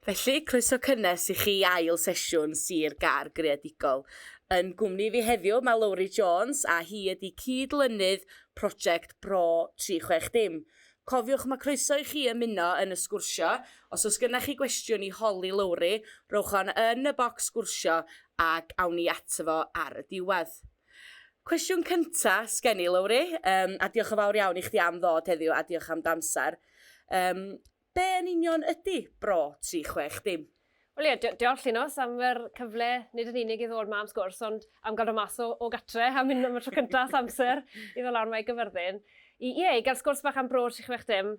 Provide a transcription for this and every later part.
Felly, croeso cynnes i chi ail sesiwn Sir Gar Greadigol. Yn gwmni fi heddiw mae Lowri Jones a hi ydy cyd-lynydd prosiect Bro 360. Cofiwch mae croeso i chi ymuno yn y sgwrsio, os oes gennych chi gwestiwn i holi Lowri, rhowch hon yn y bocs sgwrsio ac awn ni ato fo ar y diwedd. Cwestiwn cynta sgen i Lowri, um, a diolch yn fawr iawn i chdi am ddod heddiw a diolch am damser. Um, be yn union ydy bro 360? Wel ie, dio- diolch Llinos am yr cyfle, nid yn unig i ddod 'ma am sgwrs, ond am gael dod mas o o gartre a mynd am y tro cynta ers amser i ddod lawr 'ma i Gaerfyrddin i ie, i gael sgwrs bach am Bro 360,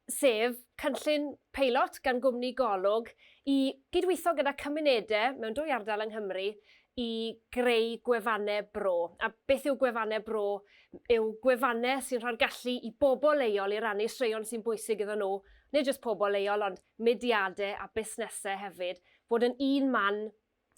sef cynllun peilot gan gwmni Golwg i gydweithio gyda cymunede mewn dwy ardal yng Nghymru i greu gwefanne bro. A beth yw gwefanne bro? Yw gwefanne sy'n rhoi'r gallu i bobl leol i rannu straeon sy'n bwysig iddyn nhw, nid jyst pobl leol ond mudiadau a busnesau hefyd, fod yn un man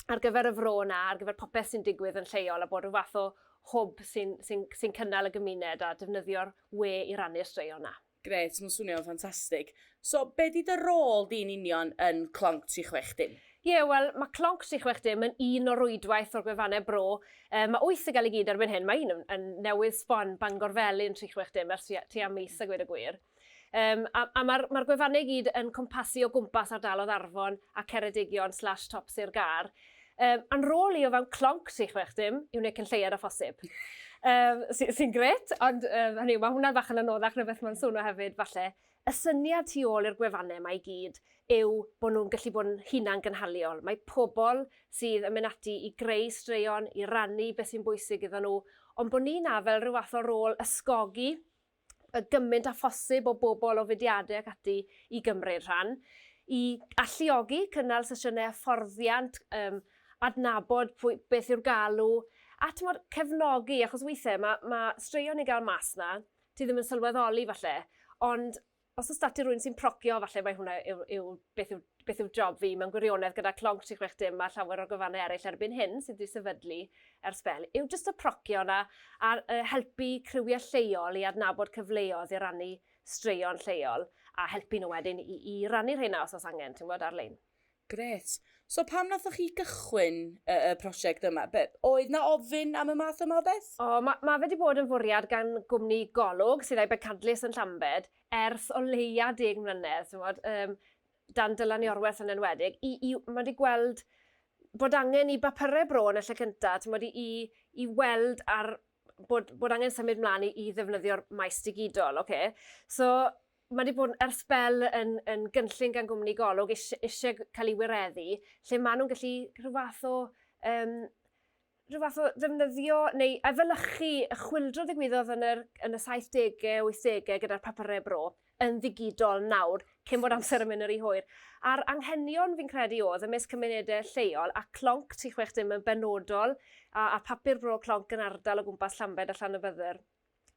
ar gyfer y fro yna, ar gyfer popeth sy'n digwydd yn lleol a bod rhyw fath o hwb sy'n sy'n sy'n cynnal y gymuned a defnyddio'r we i rannu'r straeon 'na. Grêt, mae'n swnio'n ffantastig. So, be 'di dy rôl di'n union yn Clonc 360? Ie, wel, mae Clonc 360 yn un o rwydwaith o'r gwefannau bro. Yy, mae wyth i gael i gyd erbyn hyn, mae un yn yn newydd sbon, Bangor Felin 360, ers tua tua mis a gweud y gwir. Um, a a mae'r ma gwefannau gyd yn cwmpasu o gwmpas ardalodd Arfon a Ceredigion slash top Sir Gar. Um, a'n rôl i o fewn clonc tri chwech dim i wneud cynlleiad o phosib. Um, Sy'n sy gret, ond um, hynny, mae hwnna fach yn anoddach na beth mae'n swnio hefyd, falle. Y syniad tu ôl i'r gwefannau mae i gyd yw bod nhw'n gallu bod yn hunan gynhaliol. Mae pobl sydd yn mynd ati i greu straeon, i rannu beth sy'n bwysig iddyn nhw, ond bod ni na fel rhyw fath o rôl ysgogi y gymaint â phosib o bobl o fudiadau ac ati i gymryd rhan, i alluogi cynnal sesiynau hyfforddiant, um, adnabod pwy, beth yw'r galw, a tymod, cefnogi, achos weithiau mae, mae straeon ni'n gael mas na, ti ddim yn sylweddoli falle, ond Os oes 'da ti rhywun sy'n procio, falle mae hwnna yw, yw beth, yw, beth yw job fi. Mae'n gwirionedd gyda clonc 36 dim a llawer o gyfannau eraill erbyn hyn sydd wedi sefydlu ers bel. Yw jyst y procio yna a helpu criwiau lleol i adnabod cyfleoedd i rannu straeon lleol a helpu nhw wedyn i, i rannu rheina os oes angen, ti'n gwybod, ar-lein. Grêt. So pam nathoch chi gychwyn y, y prosiect yma? Be, oedd na ofyn am y math yma o beth? O, mae ma fe wedi bod yn fwriad gan gwmni Golwg, sydd a'i bencadlys yn Llambed, ers o leia deg mlynedd, ti'n gwybod, um, dan Dylan Iorwerth yn enwedig, i, i, mae wedi gweld bod angen i bapurau bro yn y lle cyntaf, ti'n gwybod, i, i, i weld ar bod, bod angen symud mlaen i, i ddefnyddio'r maes digidol. Okay? So, mae wedi bod ar sbel yn, yn gynllun gan gwmni golwg eisiau, eisiau cael ei wireddu, lle maen nhw'n gallu rhyw fath o um, rhyw fath o ddefnyddio neu efelychu y chwildro ddigwyddodd yn, yr, yn y 70au, 80au gyda'r papurau bro. yn ddigidol nawr, cyn bod amser yn mynd yn rhy hwyr. A'r anghenion, fi'n credu, o'dd ymysg cymunede lleol, a clonc tri chwech dim yn benodol, a a papur bro clonc yn ardal o gwmpas Llambed a Llanybydder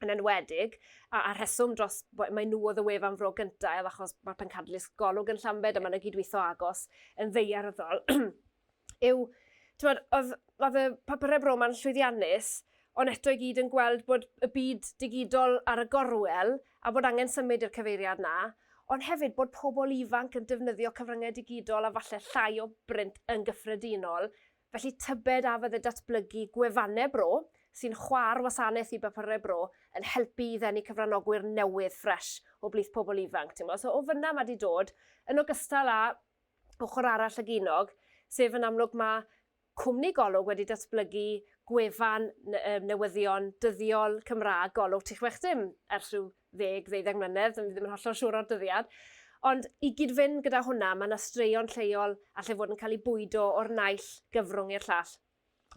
yn enwedig, a a'r rheswm dros, wel, mai nhw o'dd y wefan Fro Gynta' ef achos ma' pencadlys Golwg yn Llambed a ma' 'na gydwitho agos yn ddaearyddol. yw, tywed, oedd, oedd y papurau bro ma'n llwyddiannus, ond eto i gyd yn gweld bod y byd digidol ar y gorwel a bod angen symud i'r cyfeiriad na, ond hefyd bod pobl ifanc yn defnyddio cyfryngau digidol a falle llai o brint yn gyffredinol, felly tybed a fydde datblygu gwefannau bro sy'n chwa'r wasanaeth i bapurau bro yn helpu i ddenu cyfranogwyr newydd ffresh o blith pobl ifanc, timod, so o fyna mae di dod, yn ogystal â ochr arall y ginog, sef yn amlwg mae cwmni Golwg wedi datblygu gwefan newyddion dyddiol Cymraeg Golwg Tŷ Chwech Dim ers rhyw ddeg, ddeuddeg mlynedd, dwi ddim yn hollol siŵr o'r dyddiad. Ond i gyd-fynd gyda hwnna, mae yna straeon lleol allai fod yn cael ei bwydo o'r naill gyfrwng i'r llall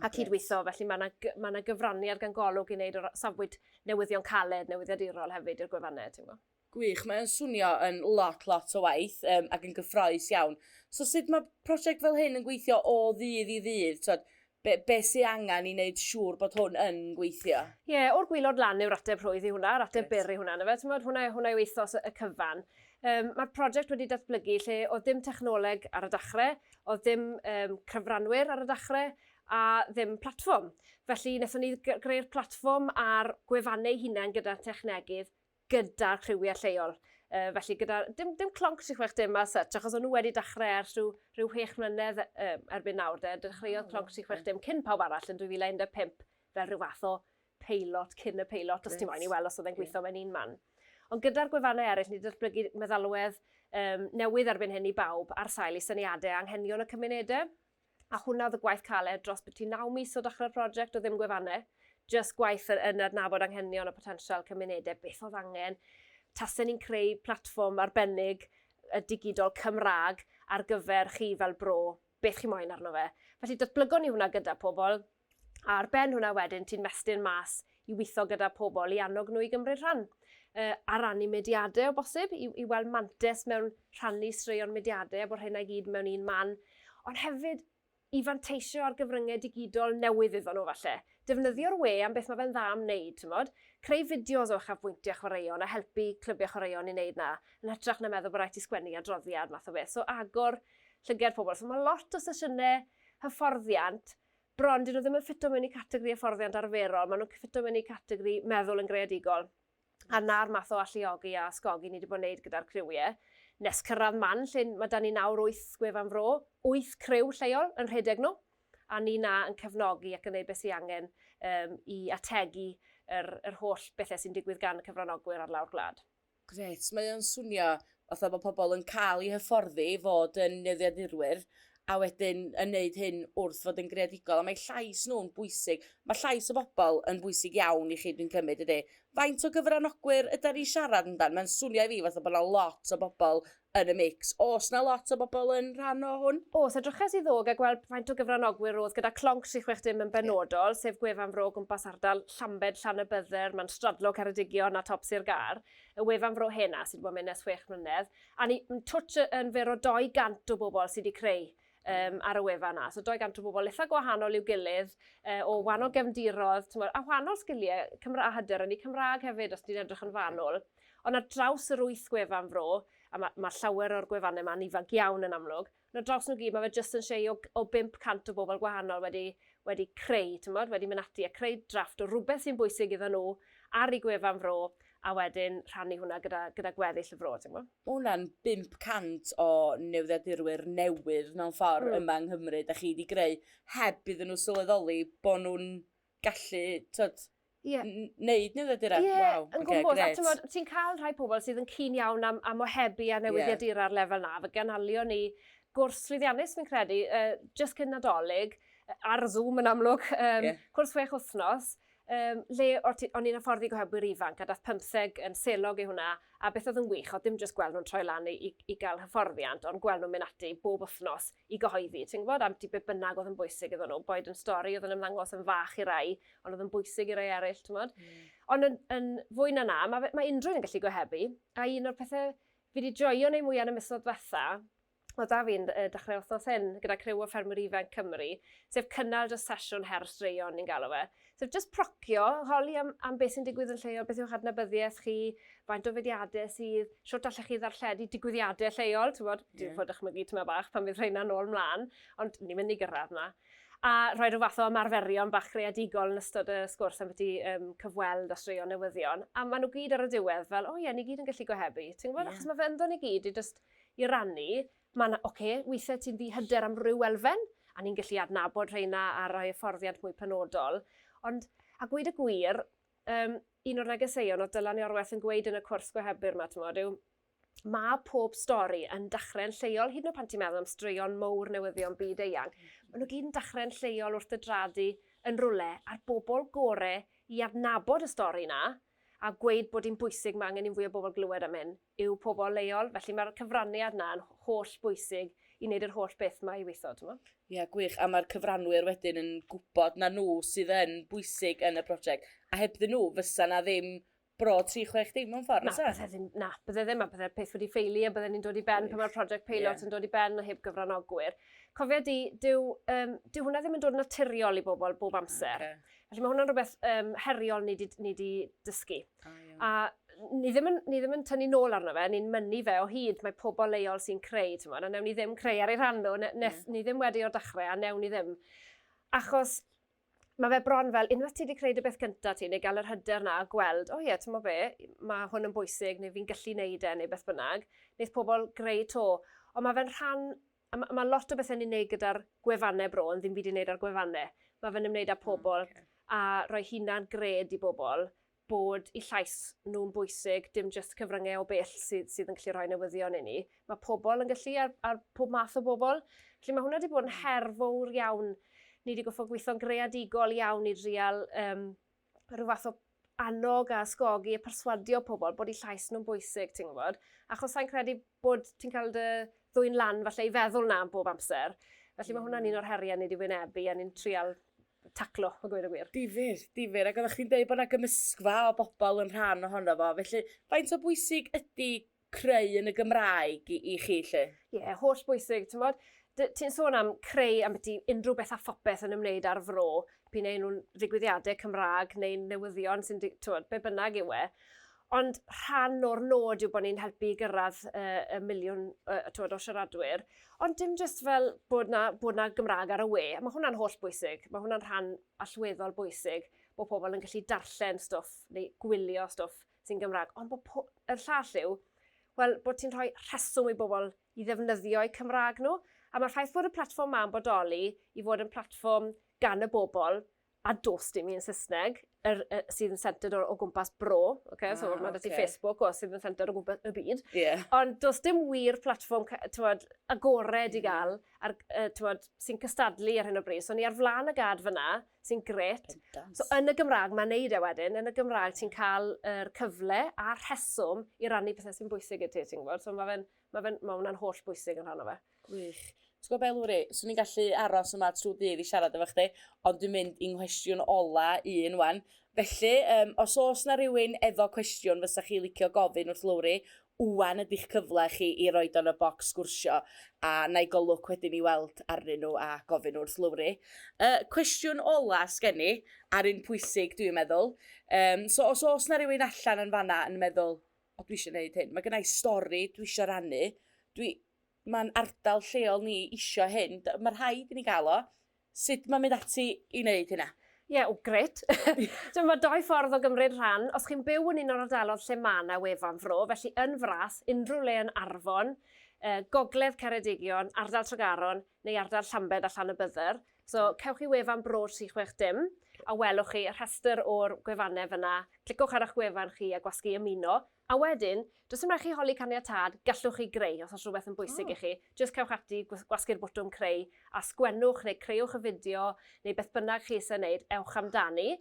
a cydweithio, felly mae yna, mae yna gyfraniad gan golwg i wneud o'r safbwynt newyddion caled, newyddiadurol hefyd i'r gwefannau, ti'n gwybod. Gwych, mae o'n swnio yn lot lot o waith um, ac yn gyffroes iawn. So sut mae prosiect fel hyn yn gweithio o ddydd i ddydd? Twod, be, be sy'n angen i wneud siŵr bod hwn yn gweithio? Ie, yeah, o'r gwylod lan yw'r ateb rhwydd i hwnna, yr ateb byr i hwnna, na fe, tymod, hwnna, hwnna yw ethos y cyfan. Um, Mae'r prosiect wedi datblygu lle oedd dim technoleg ar y dachrau, oedd dim um, cyfranwyr ar y dachrau, a ddim platfform. Felly, wnaethon ni greu'r platfform a'r gwefannau hunain gyda technegydd gyda'r criwiau lleol. Uh, felly gyda, dim, dim clonc 36 dim a such, achos o'n nhw wedi dechrau ers rhyw, rhyw 6 mlynedd um, erbyn nawr, de, dechreuodd oh, clonc 36 dim cyn pawb arall yn 2015 fel rhyw fath o peilot, cyn y peilot, os yes. ti'n moyn i weld os oedd e'n gweithio mewn un man. Ond gyda'r gwefannau eraill, ni datblygu meddalwedd um, newydd erbyn hyn i bawb ar sail i syniadau anghenion y cymunedau. A hwnna oedd y gwaith caled dros biti naw mis o dechrau'r prosiect o ddim gwefannau, jyst gwaith yn, yn adnabod anghenion a potensial cymunedau, beth oedd angen, tasen ni'n creu platfform arbennig y digidol Cymraeg ar gyfer chi fel bro, beth chi moyn arno fe. Felly datblygon ni hwnna gyda pobl, Ar ben hwnna wedyn, ti'n mestyn mas i weithio gyda pobl, i annog nhw i gymryd rhan. Uh, a rannu mediadau o bosib, i, i weld mantes mewn rhannu straeon mediadau a bod hynna i gyd mewn un man. Ond hefyd, i fanteisio ar gyfryngau digidol newydd iddyn nhw falle. Defnyddio'r we am beth mae fe'n dda am wneud, ti'n modd? Creu fideos o uchafbwyntiau chwaraeon a helpu clybiau chwaraeon i wneud na, yn hytrach na meddwl bod rhaid ti sgwennu adroddiad math o beth. So agor llygau'r pobl. So mae lot o sesiynau hyfforddiant Bron, dyn nhw ddim yn ffito mewn i categori hyfforddiant arferol, maen nhw'n ffito mewn i categori meddwl yn greadigol. A na'r math o alluogi a ysgogi ni wedi bod yn gwneud gyda'r criwiau. Nes cyrraedd man lle mae da ni nawr wyth gwefan fro, wyth criw lleol yn rhedeg nhw, a ni na yn cefnogi ac yn gwneud beth sy'n angen um, i ategu yr, yr holl bethau sy'n digwydd gan y cyfranogwyr ar lawr gwlad. Grêt, mae o'n swnio fatha bod pobl yn cael eu hyfforddi i fod yn newyddiadurwyr a wedyn yn neud hyn wrth fod yn greadigol, a mae llais nhw'n bwysig. Mae llais y bobl yn bwysig iawn i chi, dwi'n cymryd, ydy. Faint o gyfranogwyr yda ni siarad amdan? Mae'n swnio i fi fatha bod yna lot o bobl yn y mix. Oes na lot o bobl yn rhan o hwn? Oes, edryches i ddog a gweld faint o gyfranogwyr roedd gyda Clonc 360 yn benodol, yeah. sef gwefan fro gwmpas ardal Llambed, Llanybydder, mae'n stradlo Ceredigion a Top Sir Gar, y wefan fro hena sydd wedi bod yn mynd nes 6 mlynedd, a ni twtch yn fer o 200 o bobl sydd wedi creu um, ar y wefan yna. So 200 o bobl eitha gwahanol i'w gilydd, uh, o wahanol gefndirodd, tymor, a wahanol sgiliau Cymra a hyder, yn ei Cymraeg hefyd, os ti'n edrych yn fanwl. Ond ar draws yr wyth gwefan fro, a mae ma llawer o'r gwefannau yma'n ifanc iawn yn amlwg, na draws nhw gyd, mae fe jyst yn siei o, o 500 o bobl gwahanol wedi, wedi creu, tymod, wedi mynd ati a creu drafft o rhywbeth sy'n bwysig iddyn nhw ar ei gwefan fro, a wedyn rhannu hwnna gyda, gyda gweddill y fro, ti'n gwybod? Mae hwnna'n 500 o newyddiadurwyr newydd mewn ffordd mm. yma yng Nghymru, da chi wedi greu, heb iddyn nhw sylweddoli bod nhw'n gallu, tyd, yeah. neud newyddiadura. Ie, yeah, wow. yn gwmwys. Okay, a ti'n modd, ti'n cael rhai pobl sydd yn cyn iawn am, am ohebu a newyddiadura yeah. ar lefel na, fe ganalio ni gwrs llwyddiannus, fi'n credu, uh, just cyn nadolig, ar Zoom yn amlwg, um, yeah. cwrs chwech wythnos, Ym lle o'r tu- o'n i'n hyfforddi gohebyr ifanc a dath pymtheg yn selog i hwnna a beth oedd yn wych oedd dim jyst gweld nhw'n troi lan i i i gael hyfforddiant ond gweld nhw'n mynd ati bob wythnos i gyhoeddi ti'n gwybod am ti be bynnag oedd yn bwysig iddyn nhw boed yn stori oedd yn ymddangos yn fach i rai ond oedd yn bwysig i rai eraill ti'n gwybod. Mm. Ond yn, yn fwy na na mae mae unrhyw un yn gallu gohebu a un o'r pethau fi wedi joio neu mwyaf yn y misoedd diwetha oedd 'da fi'n dechrau wythnos hyn gyda criw o ffermwyr ifanc Cymru, sef cynnal dros sesiwn her straeon ni'n galw fe. Sef just procio, holi am, am beth sy'n digwydd yn lleol, beth yw'ch adnabyddiaeth chi, faint o fediadau sydd, siwt allech chi ddarlledu digwyddiadau lleol, ti'n bod, yeah. fod dychmygu tyma bach pan fydd rheina nôl mlaen, ond ni'n mynd i gyrraedd yna. A rhoi rhyw fath o ymarferion bach creadigol yn ystod y sgwrs am beth i um, cyfweld a straeon newyddion. A maen nhw gyd ar y diwedd fel, o oh, ie, yeah, ni gyd yn gallu gohebu. Ti'n gwybod, yeah. achos mae fe ynddo ni gyd i just i rannu, ma' 'na, ocê, weithiau ti'n ddihyder am ryw elfen, a ni'n gallu adnabod rheina a rhoi hyfforddiant mwy penodol, ond, a gweud y gwir, yym, un o'r negeseuon oedd Dylan Iorwerth yn gweud yn y cwrs gohebydd 'ma, timod, yw ma' pob stori yn dachre'n lleol, hyd yn oed pan ti'n meddwl am straeon mowr newyddion byd eang, ma' nhw gyd yn dachre'n lleol wrth dy draed di yn rywle, a'r bobl gore i adnabod y stori 'na a gweud bod hi'n bwysig, ma' angen i fwy o bobl glywed am hyn, yw pobl leol, felly mae'r cyfraniad 'na yn holl bwysig i wneud yr holl beth 'ma i weithio, t'mo'? Ie, gwych, a mae'r cyfranwyr wedyn yn gwybod na nhw sydd yn bwysig yn y prosiect, a hebddyn nhw fysa 'na ddim bro 36 dim mewn ffordd, Na, fysa? bydde ddim, na, bydde ddim, a bydde'r peth wedi ffeili, a bydde ni'n dod i ben pan mae'r prosiect peilot yeah. yn dod i ben a heb gyfranogwyr. Cofia di, dyw, um, dyw hwnna ddim yn dod naturiol i bobl bob amser. Okay. Felly mae hwnna'n rhywbeth um, heriol ni wedi dysgu. A ni ddim yn, ni ddim yn tynnu nôl arno fe, ni'n mynnu fe o hyd, mae pobl leol sy'n creu, ti'n modd, a newn ni ddim creu ar ei rhan nhw, ne, ne, yeah. ni ddim wedi o'r dechrau, a newn ni ddim. Achos mae fe bron fel, unwaith ti wedi creu dy beth cyntaf ti, neu gael yr hyder na, gweld, o oh, ie, yeah, ti'n mo be, mae hwn yn bwysig, neu fi'n gallu neud e, neu beth bynnag, wneud pobl greu to. Ond mae fe'n rhan A ma' ma' lot o bethe ni'n neud gyda'r gwefanne bro yn ddim byd i neud â'r gwefanne. Ma' fe'n ymwneud â pobl a rhoi hunan gred i bobl bod 'u llais nhw'n bwysig, dim jyst cyfrynge o bell sydd sydd yn gallu rhoi newyddion i ni. Ma' pobl yn gallu ar ar pob math o bobl. Felly ma' hwnna 'di bod yn her fowr iawn. Ni 'di goffod gweitho'n greadigol iawn i drial yym rhyw fath o annog a ysgogi a perswadio pobl bod i llais nhw'n bwysig, ti'n gwybod? Achos sa'n credu bod ti'n cael dy ddwy'n lan falle i feddwl na am bob amser. Felly mm. mae hwnna'n un hmm. o'r heriau ni wedi wynebu a ni'n trial taclo, o gwir y gwir. Difyr, difyr. Ac oeddech chi'n dweud bod yna gymysgfa o bobl yn rhan ohono fo. Felly, faint o bwysig ydy creu yn y Gymraeg i, i chi, lle? Ie, yeah, holl bwysig, ti'n bod? Ti'n sôn am creu am beth unrhyw beth a phopeth yn ymwneud â'r fro, pyn ein nhw'n ddigwyddiadau Cymraeg neu'n newyddion sy'n, ti'n bod, be bynnag yw e. Ond rhan o'r nod yw bod ni'n helpu i gyrraedd uh, y miliwn uh, tywed, o siaradwyr. Ond dim jyst fel bod na, bod na Gymraeg ar y we. Mae hwnna'n holl bwysig. Mae hwnna'n rhan allweddol bwysig bod pobl yn gallu darllen stwff neu gwylio stwff sy'n Gymraeg, ond bod po... y llall yw, wel, bod ti'n rhoi rheswm i bobl i ddefnyddio'u Cymraeg nhw, a mae'r ffaith bod y platfform ma'n bodoli i fod yn platfform gan y bobl, a dos dim un Saesneg, yr, y, sydd yn centred o, o gwmpas bro, okay? ah, so mae okay. ti Facebook o sydd yn centred o gwmpas y byd, yeah. ond dos dim wir platfform tywed, agored mm. i gael, ar, uh, tywed, sy'n cystadlu ar hyn o bryd. So ni ar flaen y gad fyna, sy'n gret. So yn y Gymraeg, mae'n neud e wedyn, yn y Gymraeg ti'n cael yr cyfle a'r rheswm i rannu pethau sy'n bwysig i ti, ti'n gwybod? So mae fe'n, mae fe'n, mae hwnna'n holl bwysig yn rhan o fe. Gwych. Ti'n gwybod beth, Lwri, swn i'n gallu aros yma trwy ddydd i siarad efo chdi, ond dwi'n mynd i'n nghwestiwn ola un wan. Felly, um, os oes na rhywun efo cwestiwn fysa chi licio gofyn wrth Lwri, Ŵan ydi'ch cyfle chi i roid o yn y bocs sgwrsio a wna i golwg wedyn i weld arnyn nhw a gofyn wrth Lowri. Y cwestiwn ola sgen i, a'r un pwysig dwi'n meddwl, yym so os oes 'na rywun allan yn fan'na yn meddwl 'O dwi isio 'neud hyn, ma' gynna i stori dwi isio rannu, dwi Mae'n ardal lleol ni isio hyn. D- Mae rhaid i ni gael o. Sut mae'n mynd ati i wneud hynna? Ie, yeah, o, gret. Dwi'n mae doi ffordd o gymryd rhan. Os chi'n byw yn un o'r ardalodd lle mae yna wefan fro, felly yn fras, unrhyw le yn Arfon, uh, Gogledd Ceredigion, Ardal Tregaron neu Ardal Llambed a Llan y Bydder. So, hmm. cewch chi wefan bro 36 dim a welwch chi y rhestr o'r gwefannau fyna. Clicwch ar eich gwefan chi a gwasgu ymuno. A wedyn, does dim rhaid chi holi caniatâd, gallwch chi greu os oes rhywbeth yn bwysig i chi. Jyst cewch ati, gwasgu'r botwm creu, a sgwennwch neu creuwch y fideo, neu beth bynnag chi eisiau wneud, ewch amdani.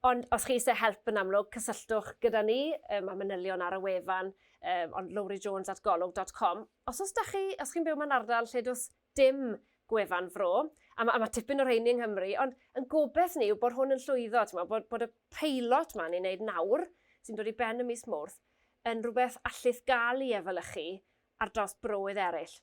Ond os chi eisiau help yn amlwg, cysylltwch gyda ni, mae manylion ar y wefan, ond lowrijones at golwg dot com. Os oes 'da chi, os chi'n byw mewn ardal lle does dim gwefan Fro, a ma' a ma' tipyn o rheiny yng Nghymru, ond 'yn gobeth ni yw bod hwn yn llwyddo, t'mo', bod bod y peilot 'ma ni'n neud nawr, sy'n dod i ben ym mis Mowrth, yn rwbeth allith ga'l 'i efelychu ar dros browydd eryll.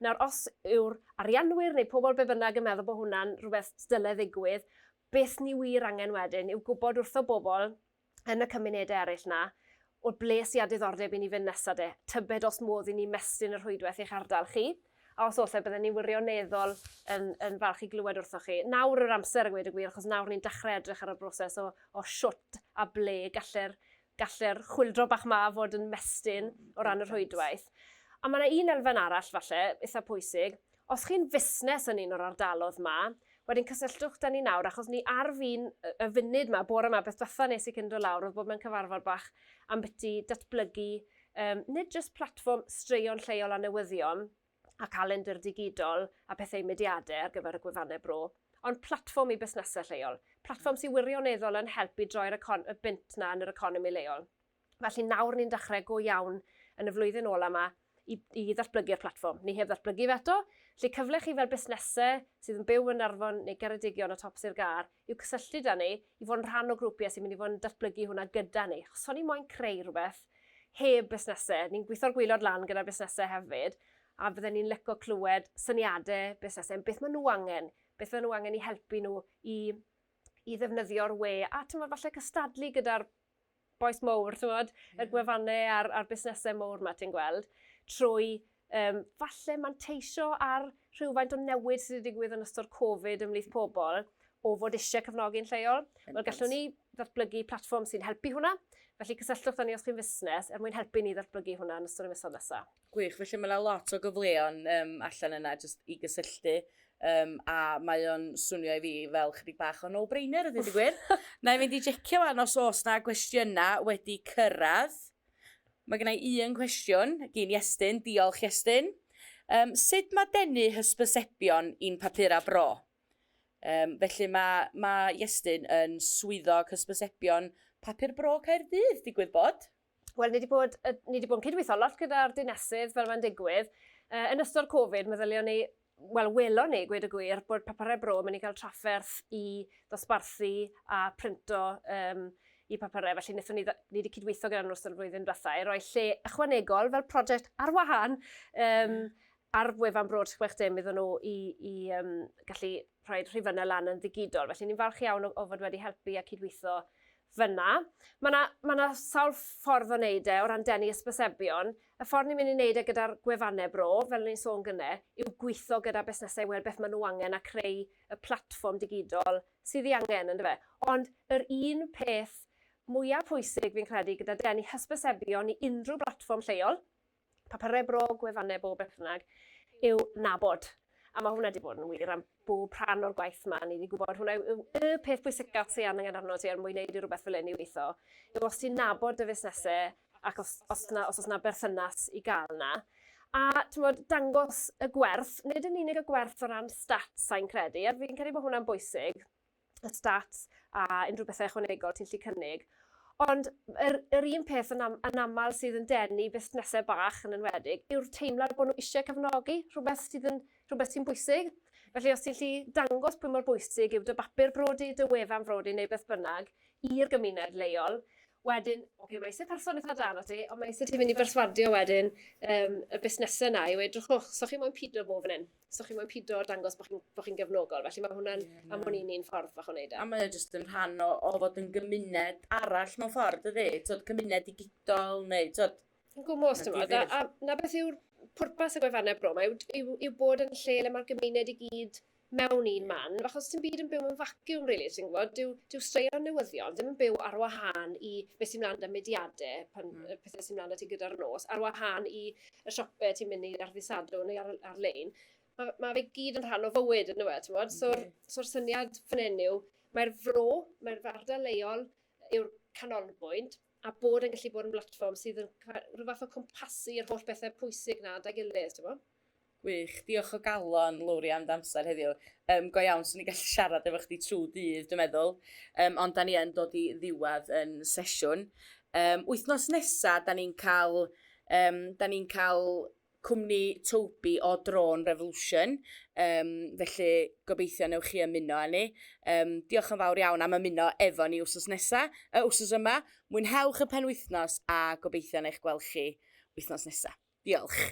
Nawr, os yw'r arianwyr neu pobol be' bynnag yn meddwl bo' hwnna'n rwbeth s- dyle ddigwydd, beth ni wir angen wedyn yw gwbod wrtho bobol yn y cymunedau eraill 'na, o ble sy â diddordeb i ni fynd nesa 'de? Tybed os modd i ni mestyn y rhwydwaith i'ch ardal chi? A os oll, bydden ni wirioneddol yn, yn falch i glywed wrthoch chi. Nawr yw'r amser a gweud y gwir, achos nawr ni'n dechrau edrych ar y broses o, o shwt a ble galle'r galle'r chwildro bach ma fod yn mestyn o ran y rhwydwaith. A mae yna un elfen arall, falle, eitha pwysig, Os chi'n fusnes yn un o'r ardalodd 'ma, wedyn cysylltwch 'da ni nawr, achos ni ar fin y funud 'ma, bore 'ma, beth dwetha nes i cyn do lawr oedd bod mewn cyfarfod bach ambyti datblygu um, nid jyst platfform straeon lleol a newyddion, a calendr digidol a pethau mudiadau ar gyfer y gwefannau bro, ond platfform i busnesau lleol, platfform sy'n wirioneddol yn helpu droi'r y bynt na yn yr economi leol. Felly nawr ni'n dechrau go iawn yn y flwyddyn ola yma i i ddatblygu'r platfform. Ni heb ddatblygu fe eto, felly cyfle i chi fel busnesau sydd yn byw yn Arfon neu Geredigion o top Sir Gâr i'w cysylltu 'da ni i fod yn rhan o grwpiau sy'n mynd i fod yn datblygu hwnna gyda ni. Achos o'n i moyn creu rhywbeth heb busnesau. Ni'n gweithio'r gwaelod lan gyda'r busnesau hefyd a fydden ni'n lico clywed syniadau busnesau am beth maen nhw angen, beth fydden nhw angen i helpu nhw i i ddefnyddio'r we a timod falle cystadlu gyda'r bois mowr, ti'n gwybod, y gwefannau a'r, ar busnesau mowr mae ti'n gweld, trwy um, falle manteisio ar rhywfaint o newid sydd wedi digwydd yn ystod Covid ymhlith pobl o fod eisiau cefnogi'n lleol. Wel, gallwn ni ddatblygu platfform sy'n helpu hwnna. Felly cysylltwch â ni os chi'n fusnes er mwyn helpu ni ddatblygu hwnna yn ystod y misoedd nesaf. Gwych, felly mae yna lot o gyfleon um, allan yna just i gysylltu um, a mae o'n swnio i fi fel chydig bach o no-brainer ydy wedi gwir. na i fynd i jecio fan os oes na gwestiynau wedi cyrraedd. Mae gennau un cwestiwn gyn Iestyn, diolch Iestyn. Um, sut mae denu hysbysebion i'n papura bro? Um, felly mae, mae Iestyn yn swyddog hysbysebion papur bro Caerdydd, digwydd bod. Wel, ni wedi bod, ni wedi bod yn cydweithio lot gyda'r dinesydd fel mae'n digwydd. Uh, yn ystod Covid, meddylion ni, wel, welon ni, gwed y gwir, bod papurau bro yn mynd i gael trafferth i ddosbarthu a printo um, i papurau, felly wnaethon ni, ni wedi cydweithio gyda'n ystod y flwyddyn diwethaf i roi lle ychwanegol fel prosiect ar wahân um, ar wefan Broad 60 iddyn nhw i, i um, gallu rhoi rhifynnau lan yn ddigidol. Felly ni'n falch iawn o, o fod wedi helpu a cydweithio Fyna. Mae yna, mae yna sawl ffordd o wneud e o ran denu hysbysebion. Y ffordd ni'n mynd i wneud e gyda'r gwefannau bro, fel o'n i'n sôn gyne, yw gweithio gyda busnesau i weld beth maen nhw angen a creu y platfform digidol sydd ei angen, yn dyfe? Ond yr un peth mwya pwysig fi'n credu gyda denu hysbysebion i unrhyw blatfform lleol, Pa pa rhai bro gwefannau bob perthnag yw nabod? A mae hwnna di bod yn wir am bob rhan o'r gwaith ma, ni di gwybod hwnna yw y peth pwysica ti angen arno ti er mwyn neud i rhywbeth fel hyn i weitho, yw os ti'n nabod dy fusnese ac os os na os os na berthynas i gael na. A t'mod dangos y gwerth, nid yn unig y gwerth o ran stats sai'n credu, a fi'n credu bod hwnna'n bwysig, y stats a unrhyw bethau ychwanegol ti'n lli cynnig. Ond yr, yr un peth yn, am, yn aml sydd yn denu busnesau bach yn enwedig yw'r teimlad bod nhw eisiau cefnogi rhywbeth sydd yn rhywbeth sy'n bwysig. Felly os ti'n lli dangos pwy mor bwysig yw dy bapur brodi, dy wefan brodi neu beth bynnag i'r gymuned leol, wedyn, oce, okay, mae eisiau person eitha dan o ti, ond mae eisiau ti fynd i berswadio wedyn um, y busnesau yna i weud, drwchwch, so chi moyn pido bob yn hyn. so chi moyn pido o'r dangos bod chi'n bo chi gefnogol. Felly mae hwnna'n, yeah, no. am hwn i'n un ffordd fach o wneud e. A mae jyst yn rhan o, o fod yn gymuned arall mewn ffordd, ydy? Tod, cymuned digidol, neu, tod... Yn gwmwys, ti'n meddwl. A, a na beth yw'r pwrpas y gwefannau bro, mae yw, yw, yw bod yn lle le mae'r gymuned i gyd mewn un man, fach os ti'n byd yn byw yn vacuum, really, ti'n gwybod, dyw, dyw straeon newyddion ddim yn byw ar wahân i beth sy'n mlaen â mediadau, pan, mm. pethau sy'n mlaen â ti gyda'r nos, ar wahân i y siopau ti'n mynd i ar ddisadwn neu ar, ar-lein, mae ma fe gyd yn rhan o fywyd yn dweud, ti'n bod? So'r so syniad fan hyn yw, mae'r fro, mae'r ardal leol yw'r canolbwynt, a bod yn gallu bod yn blatfform sydd yn rhyw fath o cwmpasu yr holl bethau pwysig na da gilydd, ti'n bod? Gwych, diolch o galon, Lowri, am ddamser heddiw. Um, go iawn, swn i'n gallu siarad efo chdi trwy dydd, dwi'n meddwl. Um, ond da ni yn dod i ddiwedd yn sesiwn. Um, wythnos nesa, da ni'n cael Yym 'dan ni'n ca'l cwmni Toby o Drone Revolution yym felly gobeithio newch chi ymuno â ni. Yym diolch yn fawr iawn am ymuno efo ni wsos nesa, yy wsos yma. Mwynhewch y penwythnos a gobeithio na eich gweld chi wythnos nesa. Diolch.